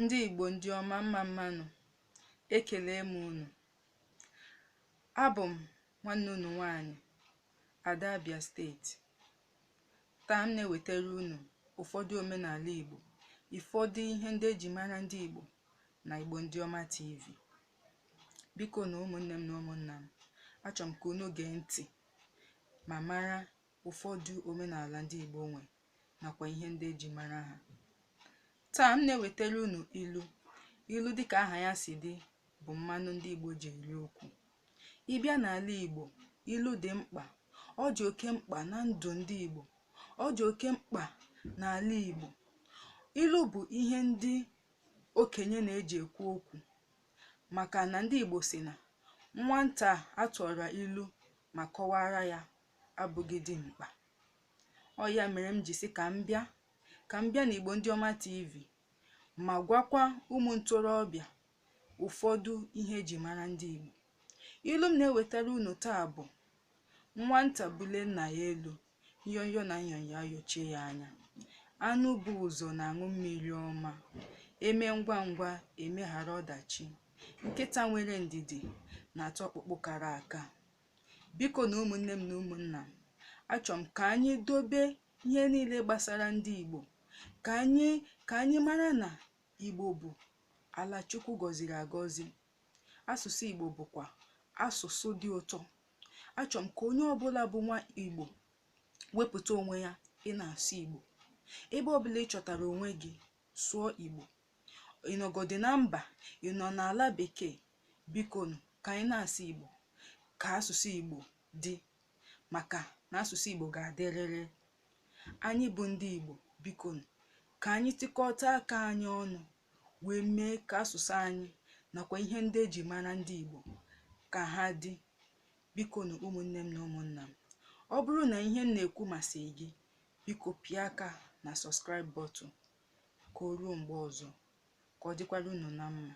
ndị Igbo ndị ọma mma mma nụ ekele m unu abụ m nwanne unu nwanyị Ada Abia steeti taa m na-ewetara unu ụfọdụ omenala Igbo ụfọdụ ihe ndị eji mara ndị Igbo na Igbo ndị ọma TV bikonu ụmụnne m na ụmụnna m achọ m ka unu gee ntị ma mara ụfọdụ omenala ndị Igbo nwe nakwa ihe ndị eji mara ha taa m na-ewetara unu ilu ilu dịka aha ya si dị bụ mmanụ ndị Igbo ji eri okwu ị bịa n'ala Igbo ilu dị mkpa ọ dị oke mkpa na ndụ ndị Igbo ọ dị oke mkpa n'ala Igbo ilu bụ ihe ndị okenye na-eji ekwu okwu maka na ndị Igbo sị na nwata a tụọra ilu ma kọwaara ya abụghị dimkpa ọ ya mere m ji sị ka m bịa ka m bịa n'Igbo Ndị Ọma TV ma gwakwa ụmụ ntorobịa ụfọdụ ihe eji mara ndị Igbo ilu m na-ewetara unu taa bụ nwata bule nna ya elu nyonyo na nyonyo ayochie ya anya anụ bu ụzọ na-aṅụ mmiri ọma eme ngwa ngwa emeghara ọdachi nkịta nwere ndidi na-ata ọkpụkpụ kara aka Bikonu ụmụnne m na ụmụnna m, achọ m ka anyị dobe ihe niile gbasara ndị Igbo, ka anyị mara na Igbo bụ ala Chukwu gọziri agọzi. Asụsụ Igbo bụkwa asụsụ dị ụtọ. Achọ m ka onye ọbụla bụ nwa Igbo wepụta onwe ya ị na-asụ Igbo. Ebe ọbụla ị chọtara onwe gị, sụọ Igbo. ị nọgodi na mba ị nọ n'ala bekee bikonu ka anyị na-asụ igbo ka asụsụ igbo dị maka na asụsụ igbo ga-adịrịrị anyị bụ ndị igbo bikonu ka anyị tikọta aka anyị ọnụ wee mee ka asụsụ anyị nakwa ihe ndị eji mara ndị igbo ka ha dị bikonu ụmụnne m na ụmụnna m ọ bụrụ na ihe m na-ekwu masịrị gị biko pịa aka na subscribe button Ka o ruo mgbe ọzọ, ka ọ dịkwara unu na mma.